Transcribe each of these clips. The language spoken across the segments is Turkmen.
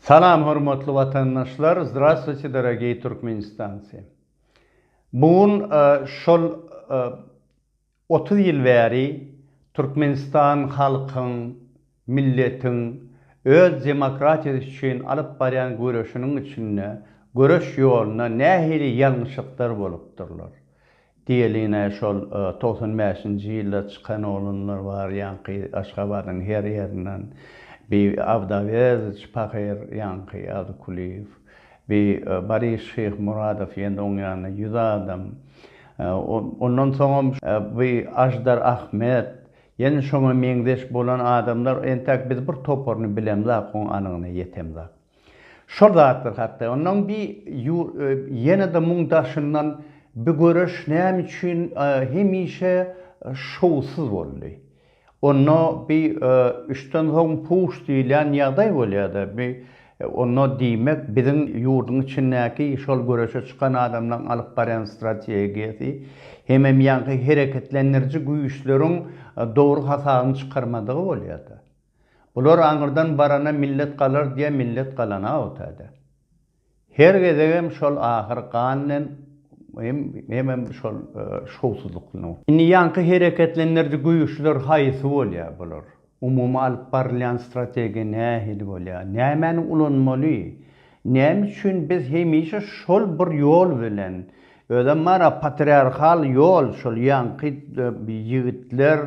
Salam hormatly watandaşlar Zdravstwuyte dorogiý Türkmenistancy Bu gün şol otuz ýyl bäri Türkmenistan halkyň milletiň öz demokratiýasy üçin alyp barýan göreşiniň içinde göreş ýolunda nähili ýalňyşyklar bolupdyrlar Diýeline şol togsan bäşinji ýylda çykan oglanlar bar ýaňky Aşgabadyň her ýerinden bi Awdaweziç pahyr ýaňky Azykulyýew bi Baris Şyhmuradow ýene oň ýanyna ýüz adam ondan soňam bi Aždar Ahmet ýene şoňa meňzeş bolan adamlar entäk biz bir toparyny bilemzak oň anygyna ýetemzak. Şol zatlar hakda. Ondan bi ýur ýene-de muň daşyndan bi göreş näme üçin hemişe şowsuz boldy. Onda bi üçden soň puş diýilýän ýagdaý bolýar-da. Bi onda diýmek biziň ýurduň içindäki şol göreşe çykan adamlaryň alyp barýan strategiýasy hemem ýaňky hereketlendiriji güýçleriň dogry hasabyny çykarmadygy bolýar-da. Bular aňyrdan barana millet galar diýä millet galana o täze. Her gezegem şol ahyr ganlem hem hemem şol şowsuzlyklyn. Indi ýaňky hereketlendiriji güýçler haýsy bolýa bular? Umumy alyp barylýan strategiýa nähili bolýa? Nämäni ulanmaly? Näme üçin biz hemişe şol bir ýol bilen, özem bar-a patriarhal ýol, şol ýaňky ýigitler,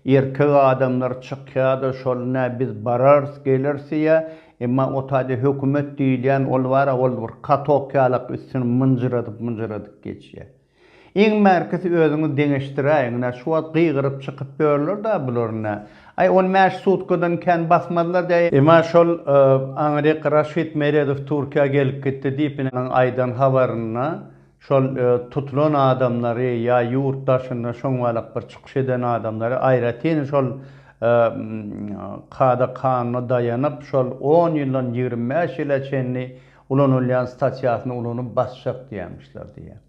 erkek adamlar çykýar-da, şol nä biz bararys, geleris diýýär, emma o taýda hökümet diýilýän ol bar-a, ol bir katok ýalak üstüni mynjyradyp-mynjyradyp geçýär. Iň bärkisi özüňiz deňeşdiräýiň, ine, şu wagt gygyryp çykyp ýörler-dä bular, ine. Aý, on bäş sutkadan kän basmazlar däý. Emma şol Anrik Raşid Meredow Türkiýä gelip gitdi diýip, ine, onuň aýdan habarynda şol tutulan adamlary ýa ýurt daşynda şoň balak bir çykyş eden adamlary aýratyn şol kada-kanuna daýanyp, şol on ýyldan ýigrimi bäş ýyla çenli Ulanylýan statýasyny ulanyp basjak diýýämişler diýýär.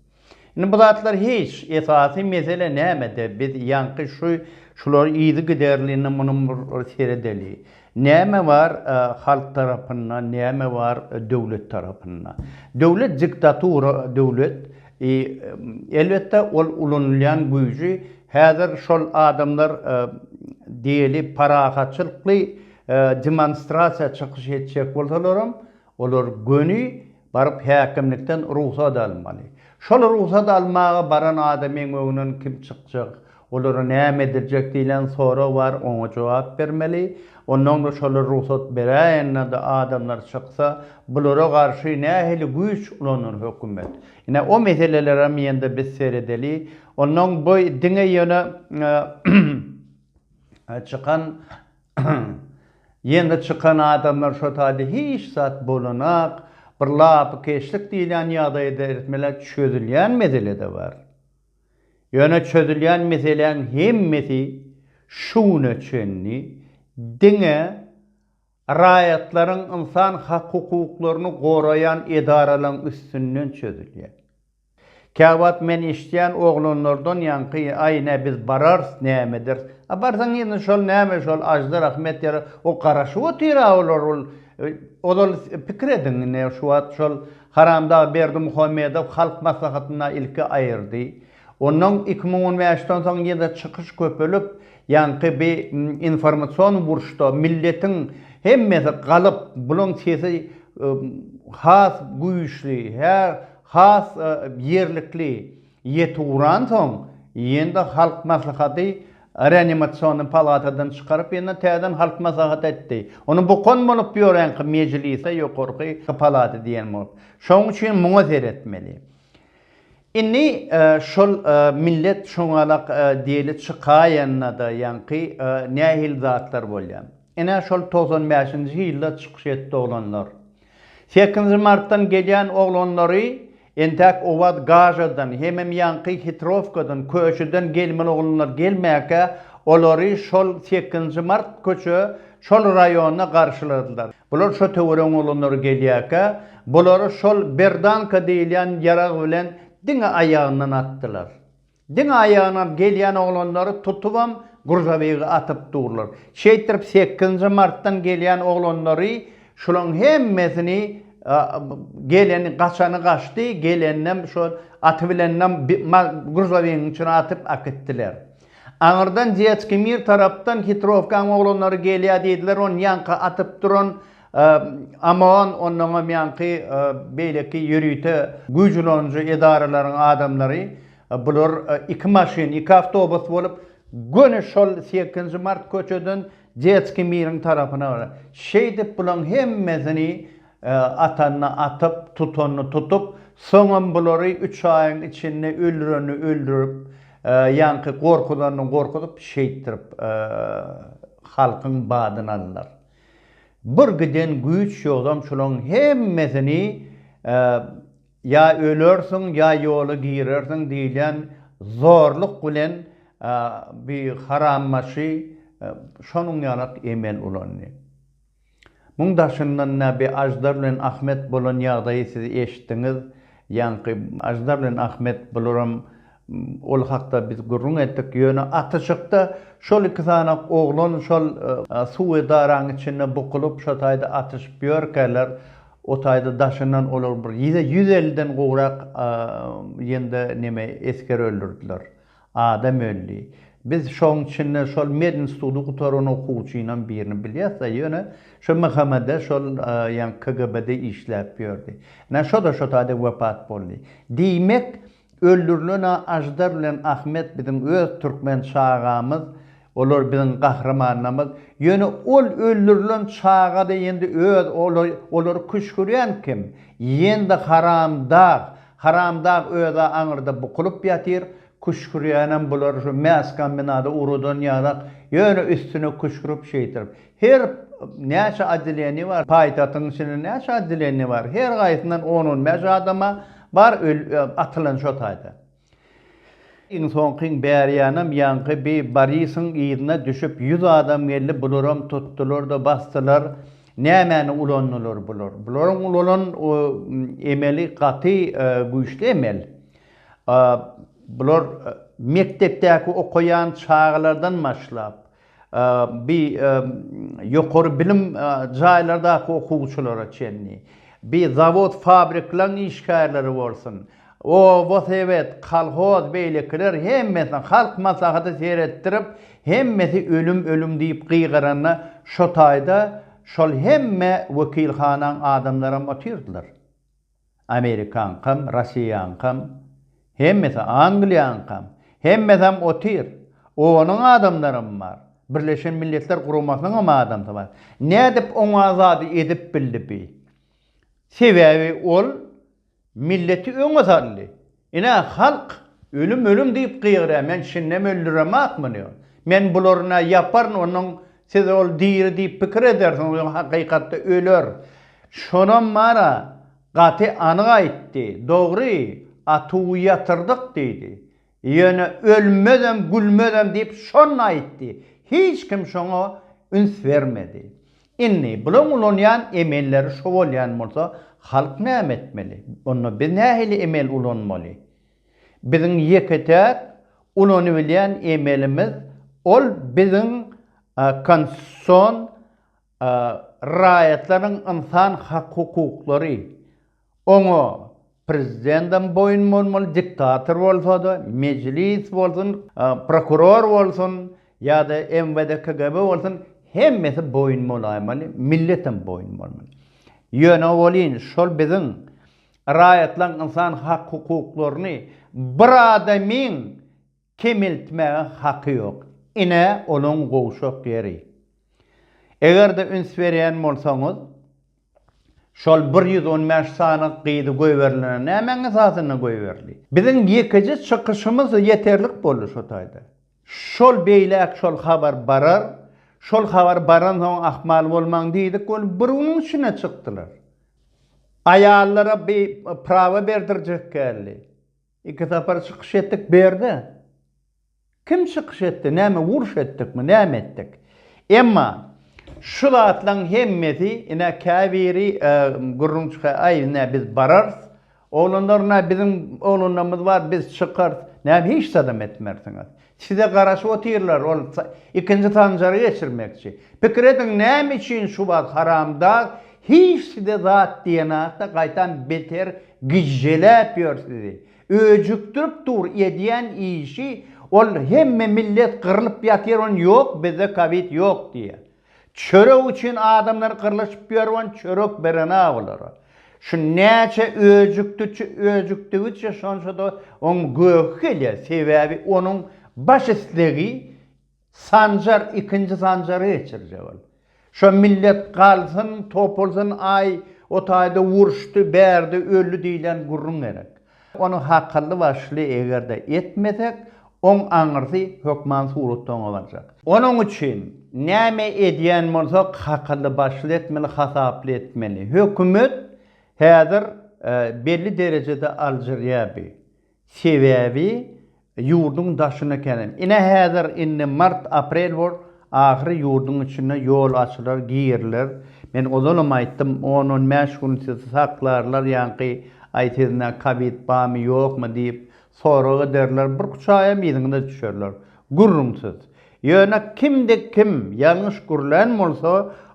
Indi bu zatlar hiç, esasy mesele nämede biz ýaňky şu şular yzygiderlini munyň bir seredeli. Näme bar halk tarapynda, näme bar döwlet tarapynda. Döwlet diktatura döwlet i elbetde ol ulanylýan güýji häzir şol adamlar diýeli parahatçylykly demonstrasiýa çykyş etjek bolsalaram Olar göni baryp häkimlikden rugsat almaly. Şol rugsat almaga baran adamyň öňünden kim çykjak, olara näme ediljek diýlen sorag bar, oňa jogap bermeli. Onnoňda şolar rugsat beräýenlerde adamlar çyksa, bulara garşy nähili güýç ulanar hökümet? Ine o meselelerem ýende biz seredeli. Onnoň bu diňe ýöne çykan Ýeňi çykan adamlar şo taýda hiç zat bolanak, bir lapykeçlik diýilýän ýagdaýda eretmeler çözülýän mesele-de bar. Ýöne çözülýän meseläň hemmesi şu güne çenli diňe raýatlaryň ynsan hak-hukuklaryny goraýan edaralaryň üstünden çözülýär. Käwagt men eşitýän oglanlardan ýaňky aý nä biz bararys näme ederis a barsaň indi şol näme şol aždar ahmet ýaly o garaşyp otyra olar ol ozal pikir ediň ine şu wagt şol haramdag berdimuhamedow halk maslahatynda ilki aýyrdy ondan iki müň on bäşden soň ýene çykyş köpelip ýaňky bi informasion burçda milletiň hemmesi galyp bulaň sesi has güýçli hä Has ýerlikli ýetip uransoň, ýene-de Halk Maslahaty reanimasionny palatadan çykaryp, ýene täzeden Halk Maslahaty etdi. Ony bokan bolup ýörenki mejlise ýokarky palata diýen bolup. Şonuň üçin muňa seretmeli. Indi şol millet şoňalak diýeli çykaýanda-da ýaňky nähili zatlar bolýar. Ine şol togsan bäşinji ýylda çykyş etdi oglanlar. Sekizinji martdan gelýän oglanlary entäk Owaz Gažadan, hemem ýaňky Hitrowkadan, Köşüden gelmeli oglanlar gelmäkä, olary şol sekizinji mart köçe şol raýonda garşyladylar. Bular şo töweregiň oglanlary gelýäkä, bulary şol berdanka diýilýän ýarag bilen diňe aýagyndan atdylar. Diňe aýagyna gelýän oglanlary tutubam gurzabygy atyp durlar. Şeýtdirip sekizinji martdan gelýän oglanlary şulaň hemmesini geleni gaçany gaçdy geleninem şo aty bilenem gurzabygyň içine atyp akitdiler. Aňyrdan Detski mir tarapdan hitrowkaň oglanlary gelýä diýdiler ony ýanka atyp duran Amazon onnoňam ýaňky beýleki ýörite güýç ulanyjy edaralaryň adamlary, bular iki maşyn, iki awtobus bolup, göni şol sekizinji mart köçeden Detskiý miriň tarapyna barar. Şeýdip bulaň hemmesini atanyny atyp, tutanyny tutup, soňam bulary üç aýyň içinde öldürenini öldürip, ýaňky gorkuzanyny gorkuzyp, şeýtdirip halkyň badyny aldylar. Bir giden güýç ýogsam şulaň hemmesini ýa ölersiň ýa ýola girersiň diýilýän zorluk bilen bi harambaşy şonuň ýalak emel ulandy. Muň daşyndan nä bi Aždar bilen Ahmet bolan ýagdaýy siz eşitdiňiz Ýaňky Aždar bilen Ahmet bularam ol hakda biz gürrüň etdik. Ýöne atyşykda şol iki sany oglan şol suwy daraň içinde bukulyp şo taýda atyşyp ýörkäler o taýda daşyndan olar bir ýüz elli den gowrak ýende neme esger öldürdiler. Adam öldi. Biz şoň içinde şol medinstudy gutaran okuwçynam birini bilýäs-de, ýöne şu MHM-de şol ýaňky KGB-de işläp ýördi. Ine, şo-da şo taýda wepat boldy. Diýmek, öldürilen-ä Aždar bilen Ahmet biziň öz türkmen çagamyz Olar biziň gahrymanlarymyz, ýöne ol öldürilen çagada indi öz olary küşgürýän kim? Ýendi haramdag, haramdag özä aňyrda bukulyp ýatyr, küşgürýänem bular şu mäskombinada urudan ýarak, ýöne üstüne küşgürip şeýtirip. Her näçe oddeleniýa bar, paýtagtyň içinde näçe oddeleniýa bar, her gaýsyndan on-on bäş adama bar atylan şo taýda. Iň soňky bärýanam ýaňky bi Borisyň yzyna düşüp ýüz adam geldi bularam tutdylarda basdylar nämäni ulandylar bular bularyň ulanan emeli gaty güýçli emel bular mekdepdäki okaýan çagalardan başlap bi ýokary bilim jaýlardaky okuwçylara çenli, bi zawod fabriklaň işgärleri bolsun, oba sebet, kolhoz beýlekiler hemmesine halk maslahaty seretdirip hemmesi ölüm ölüm diýip gygyranda şotaýda şol hemme wekilhanaň adamlaram otyrdylar. Amerikaňkam, Rossiýaňkam, hemmesi, Angliýaňkam, hemmesem otyr. Onuň adamlaram bar. Birleşen Milletler Guramasynyňam adamsy bar. Nädip oňa zady edip bildi bi? Sebäbi ol milleti öňe saldy. Ine, halk, Ölüm, ölüm diýip gygyrýar, men şindem öldüremakmyny? Men bularyna ýaparyn, onuň siz ol diri diýip pikir edersiňiz, ýöne hakykatda öler. Şonam bar-a, gaty anyk aýtdy, dogry, atuwy ýatyrdyk diýdi. Ýöne ölmezem, gülmezem diýip şonda aýtdy. Hiç kim şoňa üns bermedi. Indi, bularyň ulanýan emelleri şo bolýan bolsa, halk näme etmeli? Onda biz nähili emel ulanmaly? Biziň ýeke-täk ulanybilýän emelimiz, ol biziň Konstitusion raýatlaryň ynsan hak-hukuklary, Oňa prezidendem boýun bolmaly, diktator bolsada, mejlis bolsun, prokuror bolsun ýa-da MWD KGB bolsun, hemmesi boýun bolaýmaly, milletem boýun bolmaly. Ýöne welin şol biziň raýatlaň ynsan hak-hukuklaryny bir adamyň Kemeltmäge haky ýok. Ine, onuň gowşak ýeri. Eger-de üns berýän bolsaňyz, şol bir ýüz on bäş sany gyzy goýberilene nämäň esasynda goýberli? Biziň ýekeje çykyşymyz ýeterlik boldy şo taýda. Şol beýläk şol habar barar, şol habar baransoň ahmal bolmaň diýdik we bir günüň içinde çykdylar. Aýallara bi prawa berdirjek geldi. Iki sapar çykyş etdik berde. Kim çykyş etdi, näme uruş etdikmi, näme etdik? Emma şu zatlaň hemmesi ine käbiri gürrüň çykaýar, aý ine biz bararys, oglanlar ine biziň oglanlarymyz bar, biz çykarys, näme hiç zadam etmersiňiz. Size garaşyp otyrlar, ol ikinji sanjary geçirmekçi. Pikir ediň, näme üçin şu wagt haramdag hiç size zat diýenakda gaýtam beter gijjeläp ýör sizi. Öjükdirip dur edýän işi, ol hemme millet gyrylyp ýatyr, ony ýok bizde kowid ýok diýýär. Çörek üçin adamlar gyrlyşyp ýörüben çörek berena bulara. Şu näçe öjükdüçi öjükdigiçe şonçada oň göhi gelýär sebäbi onuň baş islegi Sanjar ikinji Sanjary geçirjek ol. Şo millet galsyn topulsyn aý o taýda uruşdy bärde öldi diýlen gürrüň gerek. Ony hakylly-başly eger-de etmesek, oň aňyrsy hökman suratda oňa barjak. Onuň üçin näme edýän bolsak, hakylly-başly etmeli, hasaply etmeli. Hökümet häzir belli derejede aljyrýar bi. Sebäbi Ýurduň daşyna kenen. Ine häzir indi mart aprel bor ahyry ýurduň içine ýol açylar giriler men ozalam aýtdym on on bäş gün sizi saklarlar ýaňky aý sizne kabit bamy ýokmy diýip sorag ederler bir üç aýam yzyňyza düşerler gürrüň siz ýöne kimde kim ýalňyş gürlän bolsa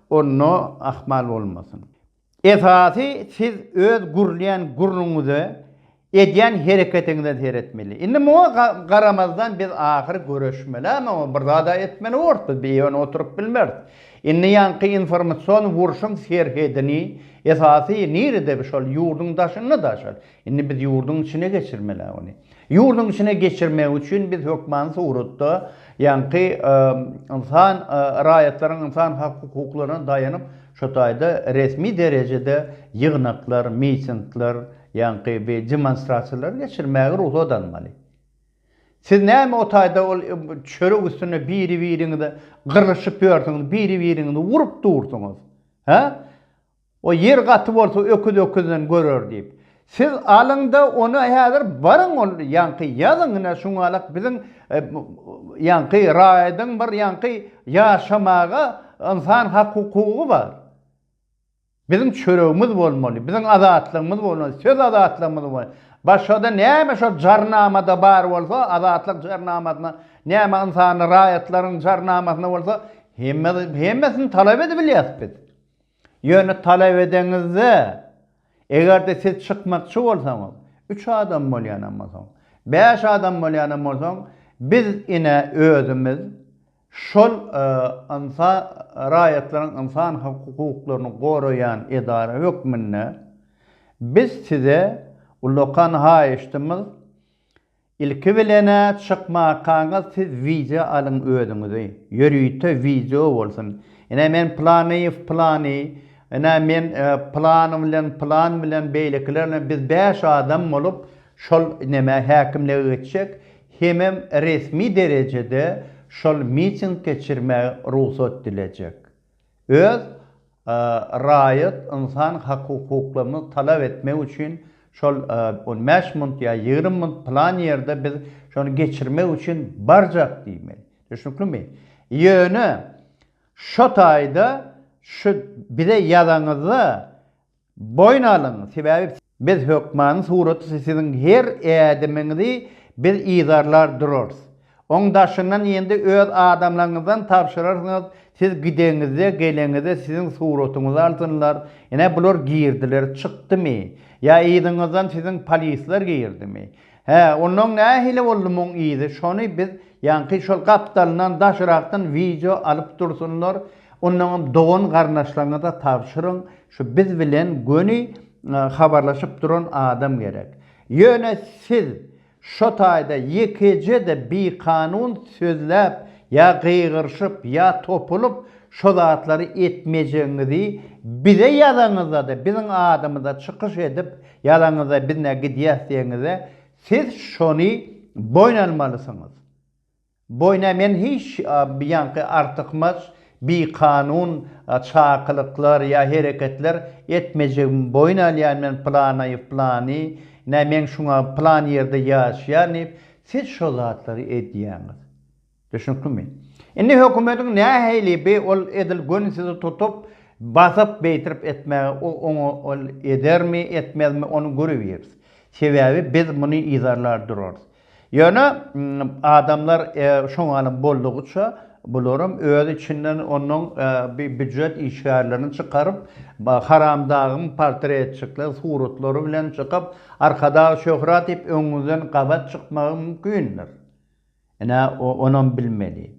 onda ahmal bolmasyn Esasy siz öz gürleýän gürrüňiňize, edýän hereketiňize seretmeli. Indi muňa garamazdan biz ahyry göreşmeli-ä muňa bir zad-a etmeli borus biz bir ýöne oturyp bilmeris. Indi ýaňky informasion urşuň serhedini esasy nirede şol ýurduň daşynda-da şol Indi biz ýurduň içine geçirmeli-ä ony. Ýurduň içine geçirmek üçin biz hökmany suratda, ýaňky ynsan, raýatlaryň ynsan hak-hukuklaryna daýanyp, şo taýda resmi derejede ýygnaklar, mitingler, ýaňky bir demonstrasiýalar geçirmäge rugsat almaly. Siz näme o taýda ol çörek üstünde biri-biriňize gyrylyşyp ýörsüňiz, biri-biriňizi urup dursuňyz? Hä? O ýer gaty bolsa öküz öküzden görer diýip. Siz alyňda ony häzir baryň ol ýaňky ýazyň ine şuňalak biziň ýaňky raýadyň bir ýaňky ýaşamaga ynsan hak hukugy bar. Biziň çöregimiz bolmaly, biziň azatlygymyz bolmaly, söz azatlygymyz bolmaly. Başgada näme şo jarnamada bar bolsa azatlyk jarnamasyna näme ynsan raýatlaryň jarnamasyna bolsa hemmesini talap edibilýäs biz. Ýöne talap edeňizde, eger-de siz çykmakçy bolsaňyz, üç adam bolýanam bolsaň, bäş adam bolýanam bolsaň, biz ine özümiz şol ynsa raýatlaryň ynsan hukuklaryny goraýan edara hökmünde biz size ullakan haýyşdymyz, Ilki bilena çykmakaňyz siz wideo alyň özüňizi ýörite wideo bolsun ine men planyýew plany ine men plan bilen plan bilen beýlekiler bilen biz bäş adam bolup şol nemä häkimlige geçjek hemem resmi derejede şol miting geçirmäge rugsat dilejek Öz raýat ynsan hakukuklaryny talap etmek üçin şol on bäş munt ýa ýigrimi munt plan ýerde biz şony geçirmek üçin barjak diýmeli. Düşnüklimi? Ýöne şo taýda şu bize ýazaňyzda Boýun alyň, sebäbi biz hökmany suraty siziň her ädimiňizi biz yzarlar durarys. Oň daşyndan ýende öz adamlaryňyzdan tabşyrarsyňyz, siz gideňizde, geleňizde siziň suratyňyzy alsynlar, ine bular girdiler, çykdymy, ýa yzyňyzdan siziň polisler girdimi, Hä, onnoň nähili boldy muň yzy, şony biz ýaňky şol gapdalyndan daşrakdan wideo alyp dursunlar, onnoňam dogan garnaşlaryňyza tabşyryň, şu biz bilen göni habarlaşyp duran adam gerek. Ýöne siz şo taýda ýekeje-de bikanun sözläp ýa gygyryşyp ýa topulyp şo zatlary etmejegiňizi bize ýazaňyzda-da biziň adymyza çykyş edip Ýazaňyzda biz nä gidýäs diýeňizde siz şony boýun almalysyňyz. Boýna men hiç ýaňky artykmaç, bikanun çakylyklar ýa hereketler etmejegimi boýun alýan men Planaýew plany, nä men şuňa plan ýerde ýaşýan diýip siz şo zatlary edýäňiz. Düşnüklimi? Indi hökümediň nähili bi ol edil göni sizi tutup, basyp beýtirip etmäge o oňa ol edermi, etmezmi ony görebiýeris. Sebäbi biz muny yzarlar durarys. Ýöne adamlar şoňalym boldugyça bularam öz içinden onnoň bi býujet işgärlerini çykaryp, haramdagyň portretçikler suratlary bilen çykyp, Arkadag Şöhrat diýip öňüňizden gabat çykmagy mümkindir. Ine, onam bilmeli.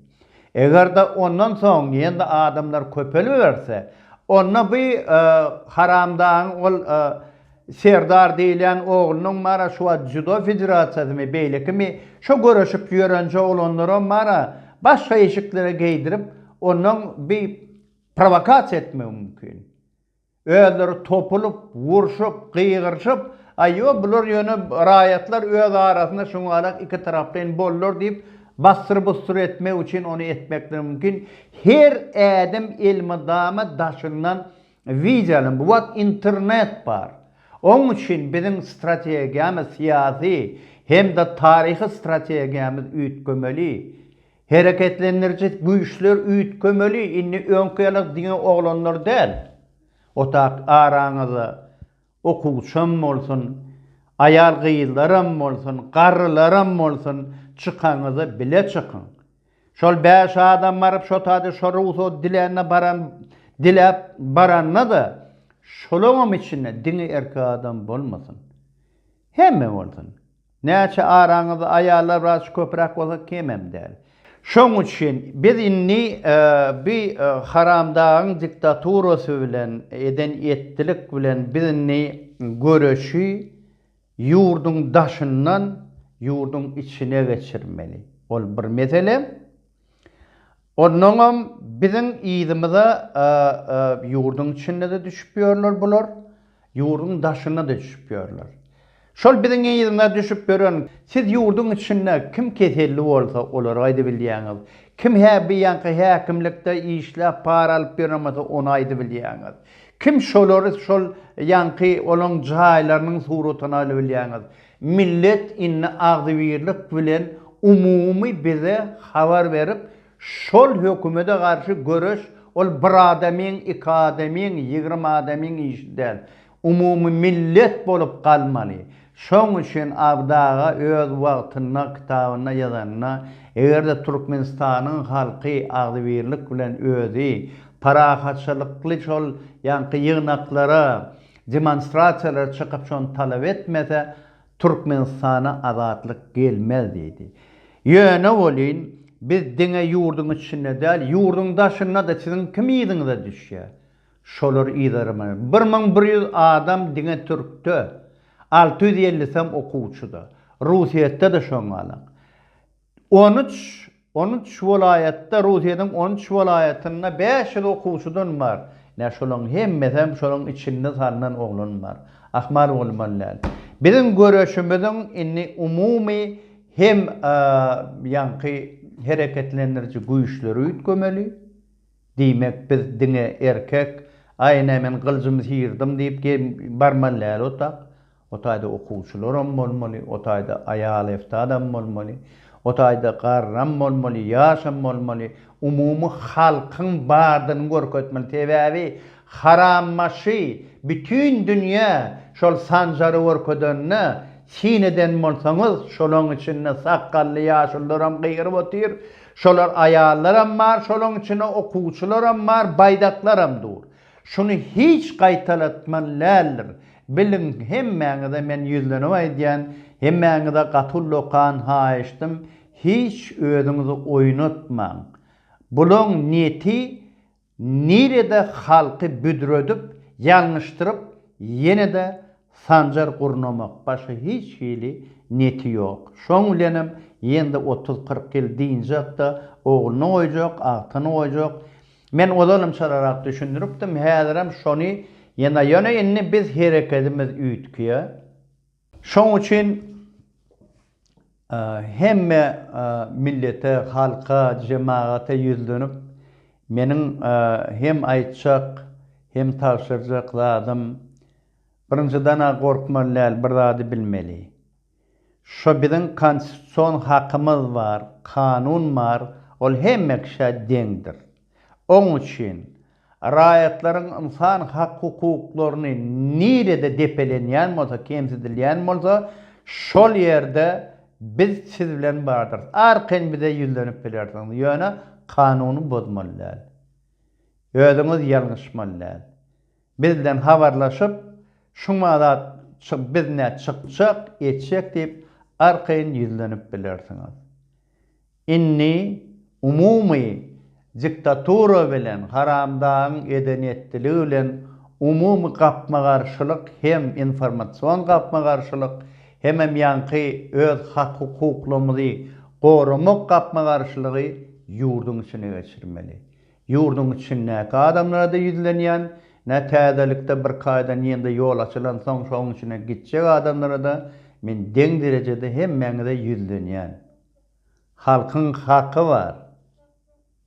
Eger-de ondan soň ýene-de adamlar köpeliberse, onda bu haramdagyň ol Serdar diýilýän oglunyň mara şu wagt Dzýudo federasiýasymy, beýlekimi, şo göreşip ýörenje oglanlaram mara başga eşiklere geýdirip, ondan bu prowokasiýa etmegi mümkin. Özleri topulyp, urşup, gygyryşyp, Aý-o, bular ýöne raýatlar öz arasynda şuňalak ikitaraplaýyn boldular diýip, bassyr-bussyr etmek üçin ony etmekleri mümkin. Her ädim elmydama daşyndan wideo alyň. Bu wagt internet bar. Oň üçin biziň strategiýamyz, syýasy hem-de taryhy strategiýamyz üýtgemeli. Hereketlendiriji güýçler üýtgemeli indi öňki ýaly diňe oglanlar däl otak araňyzda okuwçam bolsun aýal gyzlaram bolsun garrylaram bolsun çykaňyzda bile çykyň şol bäş adam baryp şotady şo rugsat dilände baran diläp barandada şolaňam içinde diňe erkek adam bolmasyn hemme bolsun Näçe araňyzda aýallar biraz şu köpüräk bolsa kemem däl. Şoň üçin biz indi bi haramdagyň diktaturasy bilen eden etdilik bilen biz indi göreşi ýurduň daşyndan ýurduň içine geçirmeli. Ol bir mesele. Onnoňam biziň yzymyza ýurduň içinde-de düşüp ýörler bular, ýurduň daşynda-da düşüp ýörler. Şol biziň yzymyza düşüp ýören, siz ýurduň içinde kim keselli bolsa, olary aýdybilýäňiz, kim hä bi ýaňky häkimlikde işläp para alyp ýöremese, ony aýdybilýäňiz, kim şolary şol ýaňky olaň jaýlarynyň suratyny alybilýäňiz, Millet indi agzybirlik bilen umumy bize habar berip şol hökümede garşy göreş ol bir adamyň iki adamyň ýigrimi adamyň işi däl umumy millet bolup galmaly şoň üçin Abdy aga öz wagtynda kitabynda ýazanynda egerde Türkmenistanyň halky agzybirlik bilen özi parahatçylykly şol ýaňky ýygnaklara Demonstrasiýalara çykyp şony talap etmese, Türkmenistana azatlyk gelmez diýdi. Ýöne welin, biz diňe ýurduň içinde däl, ýurduň daşynda-da siziň kim yzyňyza düşýär? Şolar yzarymyz. Bir müň bir ýüz adam diňe türkde, alty ýüz ellisi hem okuwçyda. Rusyýetde-de şoňalaň. On üç On üç welaýatda, Russiýanyň on üç welaýatynda bäş ýüz okuwçydan bar. Ine, şolaryň hemmesem şolaryň içinde salnan oglan bar. Ahmal bolman däl. Biziň göreşimiziň indi umumy hem ýaňky hereketlendiriji güýçleri üýtgemeli. Diýmek, biz diňe erkek, Aý, ine, men gylyjymy syýrdym diýip barmaly däl otag. O taýda okuwçylaram bolmaly, o taýda aýal-efsadam bolmaly, o taýda garram bolmaly, ýaşam bolmaly, umumy halkyň bardygyny görkezmeli. Sebäbi harambaşy bütin dünýä şol Sanjary görkezende, syn eden bolsaňyz, şolaň içinde sakgally ýaşulularam gygyryp otyr, şolar aýallaram bar, şolaň içinde okuwçylaram bar, baýdaklaram dur. Şuny hiç gaýtalatman läldir. Biliň, hemmäňize men ýüzlenip aýdýan, hemmäňize gaty uly okan haýyştym, hiç özüňizi oýnatmaň. Bulaň niýeti nirede halky büdredip, ýalňyşdyryp, ýene-de Sanjar gurnamak, başga hiç hili niýeti ýok. Şoň bilenem ýene-de otuz-kyrk ýyl dynjak-da, ogluna goýjak, agtygyna goýjak, Men ozalam çalarak düşündiripdim, häzirem şony ýene, ýöne indi biz herekedimiz üýtgýär. Şoň üçin hemme millete, halka, jemagata ýüzlenip, meniň hem aýtjak, hem tabşyrjak zadym, birinjiden-ä gorkmaly däl, bir zady bilmeli. Şo biziň konstitusion hakymyz bar, kanun bar, ol hemme kişä deňdir. Oň üçin raýatlaryň ynsan hak-hukuklaryny nirede depelenýän bolsa, kemsidilýän bolsa, şol ýerde biz siz bilen bardyrys. Arkaýyn bize ýüzlenip bilersiňiz, ýöne kanuny bozmaly däl. Özüňiz ýalňyşmaly däl. Bizden habarlaşyp, şuňa zat biz nä çykjak, etjek diýip, arkaýyn ýüzlenip bilersiňiz. Indi umumy diktatura bilen, haramdagyň edenetdiligi bilen umumy gapma-garşylyk hem informasion gapma-garşylyk, hemem ýaňky öz hak-hukuklarymyzy goramak gapma-garşylygy ýurduň içine geçirmeli. Ýurduň içindäki adamlara-da ýüzlenýän, nä täzelikde bir kaýdan ýene-de ýol açylansoň şoň içine gitjek adamlara-da men deň derejede hemmäňize ýüzlenýän. Halkyň haky bar.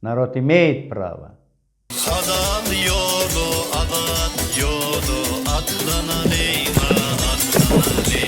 Narod imeýit prava. Halal ýola azat ýola atlanalyň-a, atlanalyň.